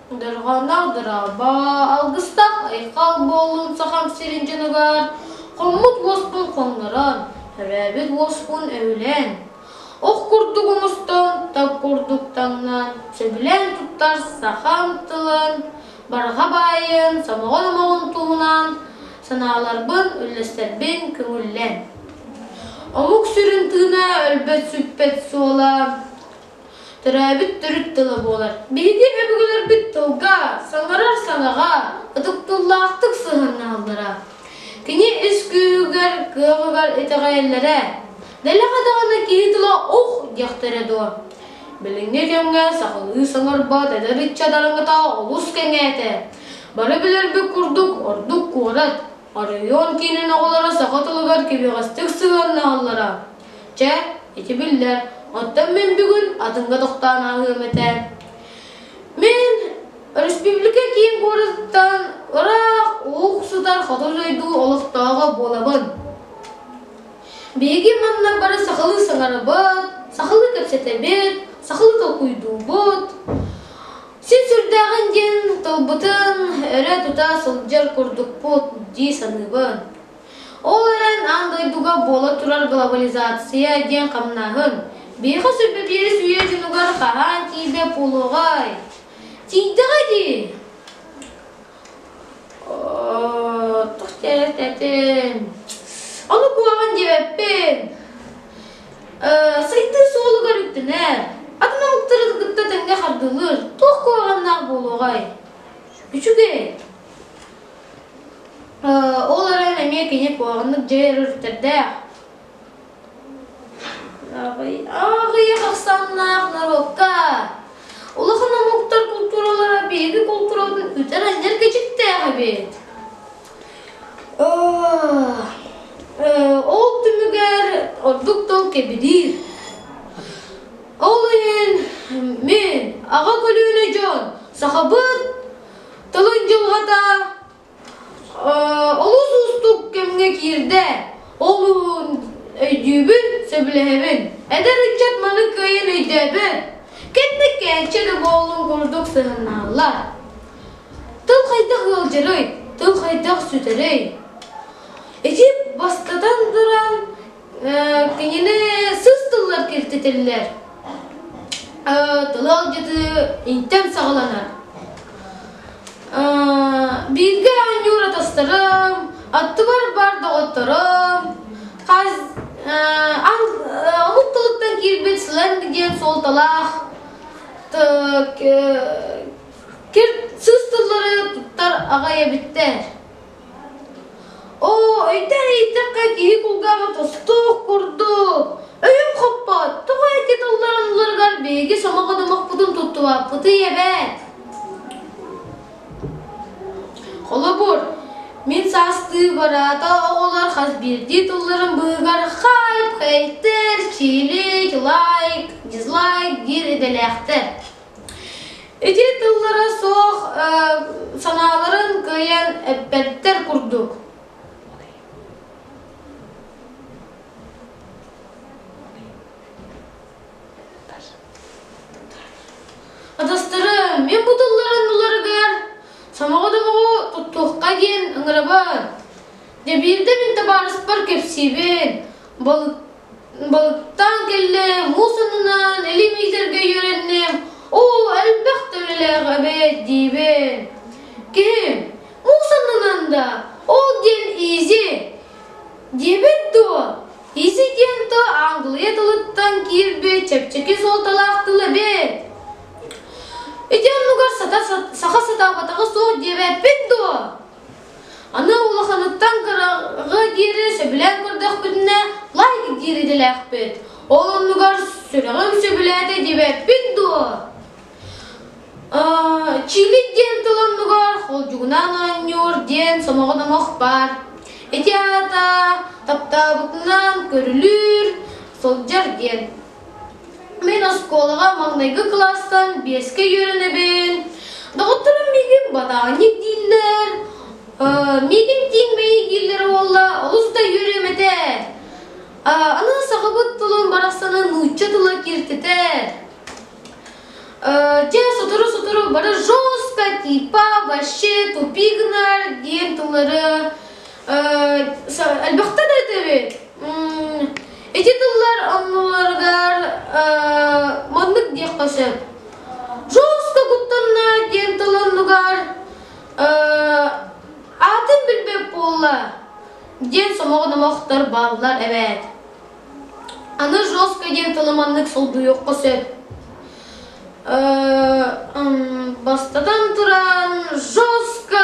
Дорҕоонноох дорообо, алгыстаах айхал буоллун Сахам сирин дьонугар, хоммут уоспун хоҥнорон, төрөөбүт уоспун өһүлэн. Ох курдук оҥостон, таг курдук таҥнан, сөбүлээн туттар сахам тылын, барҕа баайын, сомоҕон омоҕун туһунан санааларбын, үллэстэрбин көҥүллэн. Омук сүрүн тыына өлбөт сүппэт суола Төрөөбүт төрүт тыла буолар. Биһиги өбүгэлэрбит тылга, саларар санаҕа, ытык тыллаахтык сыһыаннаһаллара. Кини ис күүһүгэр, кыамыгар итэҕэйэллэрэ. Дэлэҕэ даҕаны киһи тыла ух диэхтэрэ дуо? Билиҥҥи кэмҥэ сахалыы саҥарбат эдэр ыччат араҥата олус кэҥээтэ. Бары билэрбит курдук ордук куорат, оройуон киинин оҕолоро саха тылыгар киһиэхэстик сыһыаннаһаллара. Чэ, ити биллэр. Оттон мин бүгүн атыҥҥа тохтоон ааһыам этэ. Мин өрөспүүбүлүкэ киин куораттан ыраах уксутар хоту дойду олохтооҕо буолабын. Биһиги манна бары сахалыы саҥарабыт, сахалыы кэпсэтэбит, сахалыы толкуйдуубут. Син сүрдээҕин диэн тылбытын өрө тута сылдьар курдукпут дии саныыбын. Ол эрэн, аан дойдуга буола турар глобализация диэн хамнааһын биһиэхэ сөрбүпиэрис үйэ дьонугар хаһаан тиийдэ буолуоҕай? Тиийдэҕэ дии. Тух диэбэтин. Ону куһаҕан диэбэппин. Сайдыы суолугар үктэнэр. Атын омуктары кытта тэҥҥэ хардылыыр туох куһаҕаннаах буолуоҕай? Үчүгэй. Ол эрэн эмиэ кини куһаҕаннык дьиэр өрүттэрдээх. Аҕыйах ахсааннаах норуокка улахан омуктар култууралара биһиги култуурабытын үтэр анньар кэчиктээх эбит. Ол түмүгэр ордук тыл кэбириир. Ол иһин мин аҕа көлүөнэ дьон сахабыт Тылын дьылҕата олус уустук кэмҥэ киирдэ. Ол өйдүүбүн, сөбүлэһэбин. Эдэр ыччат маны кыайан өйдөөбөт. Кэнник кээччэ да буолуон курдук сыһаннааллар. Тыл хайдах ыалдьарый? Тыл хайдах сүтэрий? Ити бастатан туран Кинини сыс тыллар киртитиллер. Тыл алдьытыы интэн саҕаланар. Бииргэ анньуура тастарым, аттыбар бар доҕотторум, хас омук тылыттан киирбит сленг диэн суолталаах сыс тыллары туттар аҕай эбиттэр. Оо, өйдөөн иһиттэххэ, киһи кулгааҕа тостуох курдук. Өйүм хоппот, тоҕо ити тылларын ылларыгар биһиги сомоҕо домохпутун туттубаппытый эбээт? Холобур, мин саастыы бараата оҕолор хас биирдии тылларын быыһыгар хайп, хейтер, чилик, лайк, дизлайк диир идэлээхтэр Ити тыллара суох санааларын кыайан эппэттэр курдук. Атастары мен бу тылларын уларыгар самоҕо домоҕу туттуохха диэн ыңырабын. Дэ биирдэ мин табаарыспар кэпсиибин, Балыктаан кэллэ муус аннынан илимиитэргэ үөрэнним Оо элбэх төрөлөөх эбээт диибин Киһи муус аннынан да ол диэн изи диэбэт дуо Изи диэн тыл Англия тылыттан киирбит чэпчэки суолталаах тыл эбээт Ити оннугар саха сатаабатаҕа суох диэбэппин дуо Аны улаханыттан кыраҕы диэри сөбүлээн көрдөхпүтүнэ, лайк диир идэлээхпит. Ол оннугар сүрэҕим сөбүлээтэ диэбэппин дуо? Чили диэн тыл оннугар холдьугунан оонньуур диэн сомоҕо номох баар. Ити аата таптаабытынан көрүлүүр, сылдьар диэн. Мин оскуолаҕа маҥнайгы класстан биэскэ үөрэнэбин. Доҕотторум миигин ботааник дииллэр. Миигин тииҥмэйи дииллэрэ буолла, олус да үөрүөм этэ. Аны сахабыт тылын барахсаны нуучча тыла кииртэтэр. Дьэ, сотору-сотору бары «Жоспа типа вообще тупик нар» диэн тыллары Элбэхтэ да этэбит. Ити тыллар оннуларыгар маннык диэххэ сөп. Жестко куттанна диэн тылынныгар атын билбэп буолла диэн сомоҕо номохтор бааллар эбээт. Аны жестко диэн тылы маннык солбуйуохха сөп. Бастатан туран жестко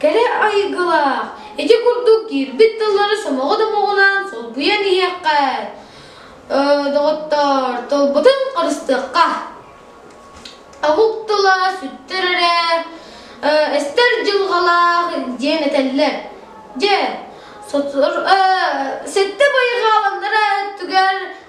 Кэрэ айылгылаах, ити курдук киирбит тыллары сомоҕо-домоҕунан солбуйан иһиэххэ. доҕоттор, тылбытын харыстыахха. Омук тыла сүттэр эрэ, эстэр дьылҕалаах диэн этэллэр. Дьэ, сэттэ байҕааланнара өттүгэр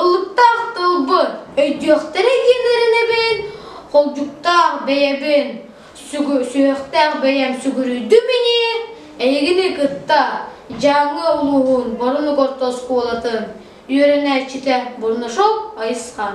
Ылыктаах тылбын, өйдүөхтэрэ диэн эрэнэбин, холдьуктаах бэйэбин, сүһүөхтээх бэйэм сүгүрүйдүм ини, эйигини кытта Дьааҥы улууһун Боронук орто оскуолатын үөрэнээччитэ Бурнашов Айысхан